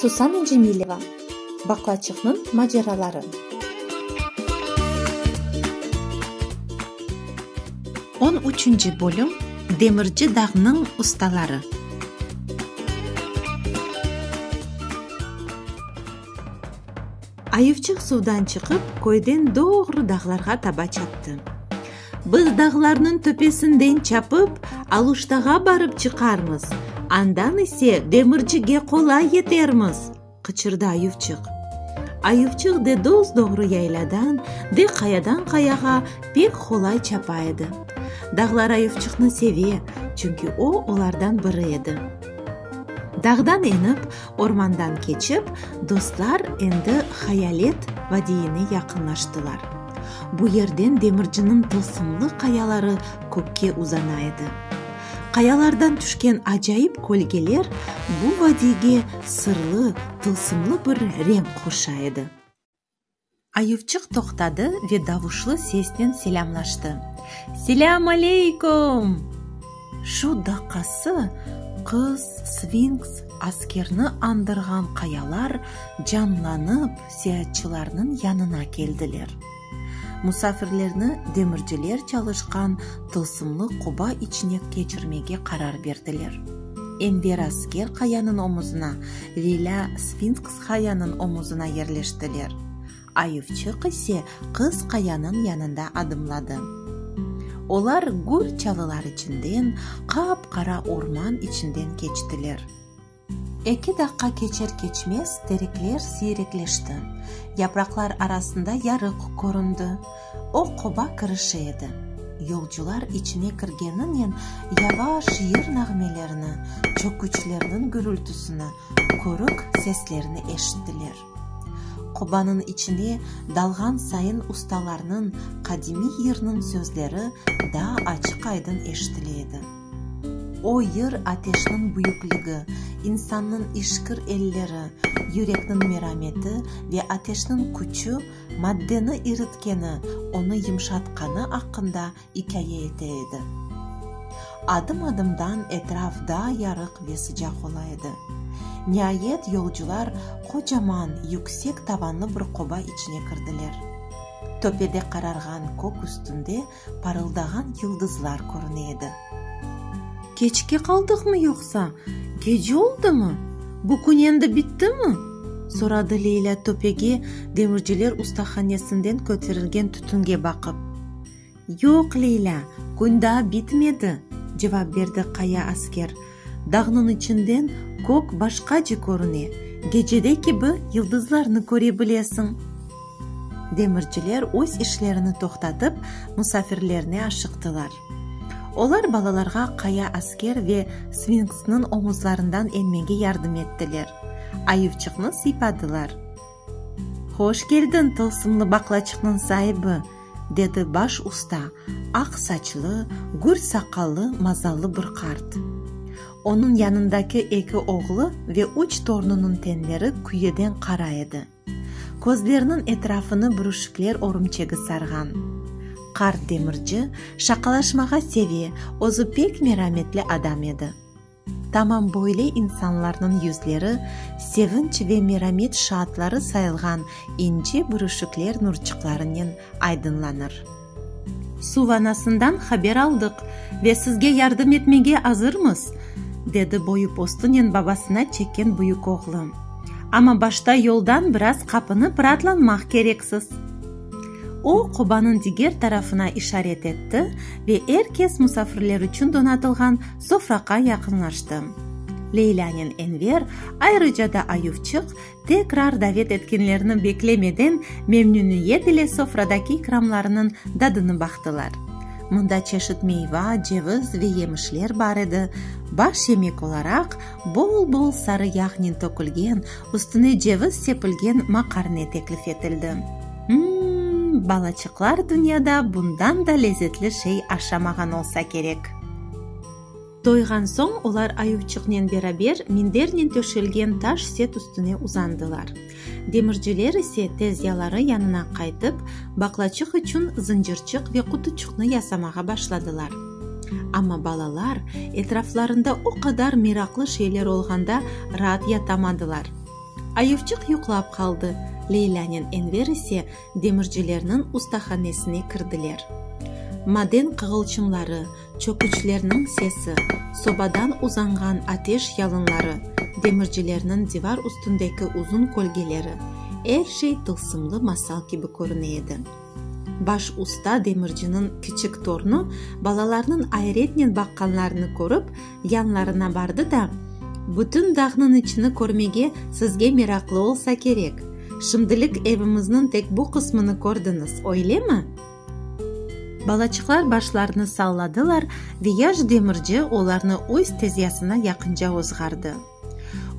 Susana Cemileva, Baqlaçıqnıñ maceraları. On üçünci bölüm Demirci dağnıñ ustaları. Ayıvçıq suvdan çıqıp, köyden doğru dağlarğa taba çaptı. Biz dağlarnıñ töpesinden çapıp, Aluştağa barıp çıqarmız, andan ise Demircige qolay yetermiz! qıçırdı Ayıvçıq. Ayıvçıq de dos-doğru yayladan, de qayadan qayağa pek qolay çapa edi. Dağlar Ayıvçıqnı seve, çünki o, olardan biri edi. Dağdan enip. Ormandan keçip, dostlar endi Hayalet vadiyine yaqınlaştılar. Bu yerden demirciniñ tılsımlı qayaları kökke uzana edi. Qayalardan tüşken acayip kölgeler bu vadiyge sırlı, tılsımlı bir renk qoşa edi. Ayuvçıq toqtadı ve davuşlı sesnen selâmlaştı, Selâm aleykum! Şu daqası qız, sfinks, askerni andırğan qayalar canlanıp seatçılarnıñ yanına keldiler. Musafirlerni demirciler çalışqan tılsımlı qoba içine keçirmege qarar berdiler. Enver asker qayanıñ omuzına, Velâ sfinkska qayanıñ omuzına yerleştiler. Ayuvçıq ise qız qayanıñ yanında adımladı. Olar gür çalılar içinden, qap-qara orman içinden keçtiler. Eki daqqa keçer-keçmez terekler siyrekleşti, yapraqlar arasında yarıq köründi. O qoba kirişi edi. Yolcular içine kirgeninen yavaş yır nağmelerini, çöküçlerniñ gürültisini, körük seslerini eşittiler. Qobanıñ içine dalğan sayın ustalarnıñ qadimiy yırnıñ sözleri daa açıq-aydın eşitile edi. O yır ateşniñ büyükligi, insannıñ işkir elleri, yürekniñ merameti ve ateşniñ küçü, Maddeni iritkeni, onı yımşatqanı aqqında ikâye ete edi. Adım-adımdan etraf daa yarıq ve sıcaq ola edi. Niayet yolcular qocaman, yüksek tavanlı bir qoba içine kirdiler. Töpede qararğan kök üstünde parıldağan yıldızlar körüne edi. Keçke qaldıqmı yoqsa? Gece oldımı? Bu kün endi bittimi? soradı Leylâ töpege, demirciler ustahanesinden köterilgen tütünge baqıp. Yoq, Leylâ, kün daa bitmedi, cevap berdi qaya asker. Dağnıñ içinden kök başqace körüne, gecede kibi yıldızlarnı köre bilesiñ. Demirciler öz işlerini toqtatıp, musafirlerine aşıqtılar. Olar balalarğa qaya asker ve sfinksniñ omuzlarından enmege yardım ettiler, ayıvçıqnı sıypadılar. Hoş keldiñ, tılsımlı baqlaçıqnıñ saibi! dedi baş usta, aq saçlı, gür saqallı, mazallı bir qart. Onıñ yanındaki eki oğlu ve üç torunınıñ tenleri küyeden qara edi. Közleriniñ etrafını bürüşikler örümçegi sarğan. Qart demirci şaqalaşmağa seve, özü pek merametli adam edi. Tamam böyle insanlarnıñ yüzleri sevinç ve meramet şaatları sayılğan ince bürüşükler nurçıqlarınen aydınlanır. Suv anasından haber aldıq ve sizge yardım etmege azırmız, dedi boyu postunen babasına çekken büyük oğlu. Amma başta yoldan biraz qapını pıratlanmaq kereksiz. O, qobanıñ diger tarafına işaret etti ve er kes musafirler içün donatılğan sofraqa yaqınlaştı. Leylânen Enver, ayrıca da Ayuvçıq, tekrar davet etkenlerni beklemeden, memnüniyet ile sofradaki ikramlarnıñ dadını baqtılar. Mında çeşit meyva, ceviz ve yemişler bar edi, baş yemek olaraq, bol-bol sarı yağnen tökülgen, Üstüne ceviz sepilgen maqarne teklif etildi. M-m-m, balaçıqlar dünyada bundan da lezetli şey aşamağan olsa kerek. Doyğan soñ olar ayuvçıqnen beraber mindernen töşelgen taş set üstüne uzandılar. Demirciler ise tezyaları yanına qaytıp, baqlaçıq içün zıncırçıq ve qutuçıqnı yasamağa başladılar. Amma balalar etraflarında o qadar meraqlı şeyler olğanda raat yatamadılar. Ayevçıq yuqlap qaldı, Leylânen Enver ise demircilerniñ ustahanesine kirdiler. Maden qığılçımları, çöküçlerniñ sesi, sobadan uzanğan ateş yalınları, demircilerniñ divar üstündeki uzun kölgeleri, er şey tılsımlı masal kibi körüne edi. Baş usta demirciniñ kiçik tornı balalarnıñ ayretnen baqqanlarını körip, yanlarına bardı da, Bütün dağnıñ içini körmege sizge meraqlı olsa kerek. Şimdilik evimizniñ tek bu qısmını kördiñiz, öylemi? Balaçıqlar başlarını salladılar ve yaş demirci olarnı öz tezyasına yaqınca ozğardı.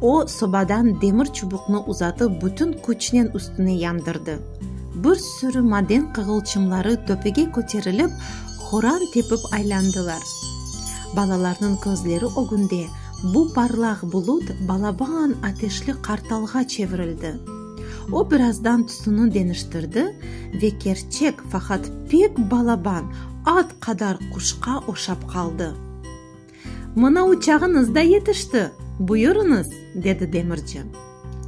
O, sobadan demir çubuqnı uzatıp bütün küçnen üstüne yandırdı. Bir sürü maden qığılçımları töpege köterilip, horan tepip aylandılar. Balalarnıñ közleri ögünde bu parlaq bulut balaban ateşli qartalğa çevirildi. O birazdan tüsüni deniştirdi ve kerçek, faqat pek balaban, at qadar quşqa oşap qaldı. Mına uçağıñız da yetişti, buyurıñız, dedi demirci.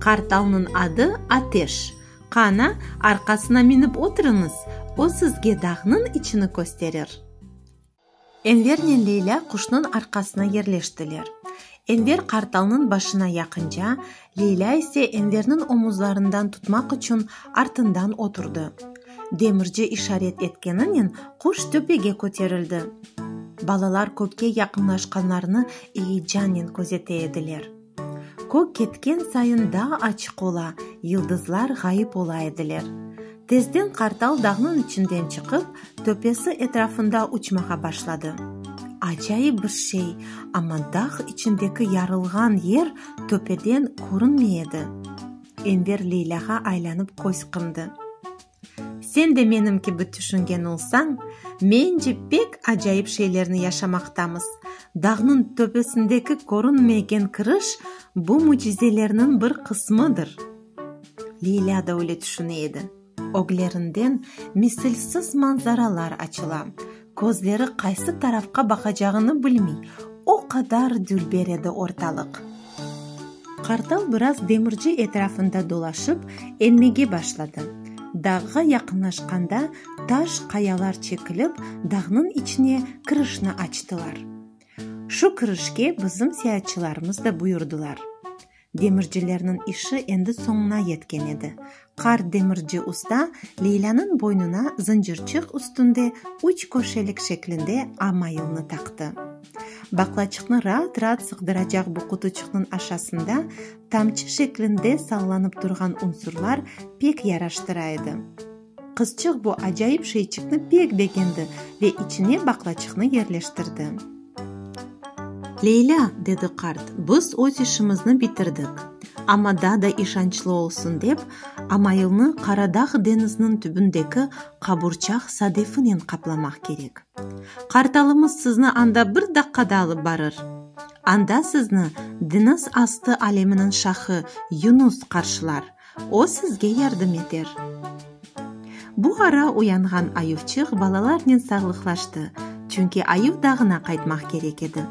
Qartalnıñ adı Ateş. Qana, arqasına minip oturıñız, o sizge dağnıñ içini kösterir. Envernen Leyla quşnıñ arqasına yerleştiler. Enver qartalnıñ başına yaqınca, Leylâ ise Enverniñ omuzlarından tutmaq içün artından oturdı. Demirci işaret etkeninen quş töpege köterildi. Balalar kökke yaqınlaşqanlarını eyecannen közete ediler. Kök ketken sayın daa açıq ola, yıldızlar ğayıp ola ediler. Tezden qartal dağnıñ içinden çıqıp, töpesi etrafında uçmağa başladı. Acayip bir şey, amma dağ içindeki yarılğan yer töpeden körünmey edi. Enver Leylâğa aylanıp köz qımdı. Sen de menim kibi tüşüngen olsañ, mence pek acayip şeylerni yaşamaqtamız. Dağnıñ töpesindeki körünmegen kiriş, bu mücizelerniñ bir qısmıdır. Leyla da öyle tüşüne edi. Öglerinden misilsiz manzaralar açıla. Közleri qaysı tarafqa baqacağını bilmey, o qadar dülber edi ortalıq. Qartal biraz demirci etrafında dolaşıp, enmege başladı. Dağğa yaqınlaşqanda taş qayalar çekilip, dağnıñ içine kirişni açtılar. Şu kirişke bizim seyaatçılarımız da buyurdılar. Demircilerniñ işi endi soñuna yetken edi. Qart demirci usta Leylânıñ boynuna zıncırçıq üstünde üç köşelik şeklinde A mayılnı taqtı. Baqlaçıqnı raat-raat sığdıracaq bu qutuçıqnıñ aşasında tamçı şeklinde sallanıp turğan unsurlar pek yaraştıra edi. Qızçıq bu acayip şeyçikni pek begendi ve içine baqlaçıqnı yerleştirdi. Leylâ, dedi qart, biz öz işimizni bitirdik. Amma daa da işançlı olsun dep, amailni Qaradağ deñiziniñ tübündeki qaburçaq sadefinen qaplamaq kerek. Qartalımız sizni anda bir daqqada alıp barır. Anda sizni deñiz astı aleminiñ şahı Yunus qarşılar, O sizge yardım eter. Bu ara uyanğan Ayuvçıq balalarnen sağlıqlaştı, çünki Ayuv dağına qaytmaq kerek edi.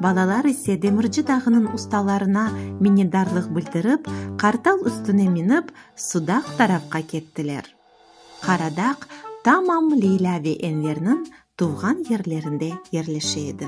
Balalar ise demirci dağınıñ ustalarına minnetdarlıq bildirip, qartal üstüne minip, Sudaq tarafqa kettiler. Qaradaq tamam Leylâ ve Enverniñ tuvğan yerlerinde yerleşe edi.